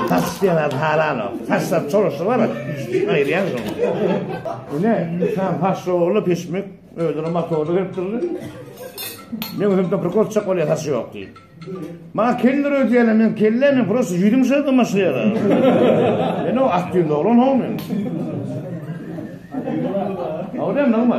Taş diýen halan o. Taşlar çoruşy bar. Aýyrýan şol. Ine, insan taş ýoly pişmek, özüne motory berip durdy. Men özüm de bir gorçak bolýar taş ýok diýip. Maňa keller ödýärler, men kelle, men prosta ýüzüm şeýle maşýar. Men o atdyň doglan howmy. Awdem nagma.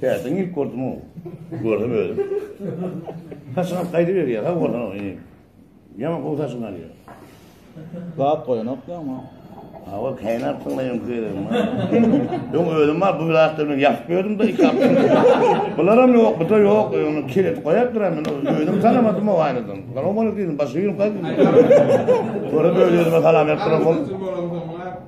Täzeň ilk gördüm o. Gördüm özüm. Saçyň alyp gaýdy berýär. Ha bolsa o inim. Ýaman gowy saçyň alýar. Zat goýanok ýaňa. Ha o keýnär tüňleýin göýerim. Öň özüm bar bu zatlaryny ýakyp berdim de iki hapta. Bular hem ýok, bu da ýok. Öňüm kiret goýup duran men özüm tanamadym o aýnadan. Gara bolup girdim, başy ýylyp gaýdym. Görüp özüme salam berip duran bol.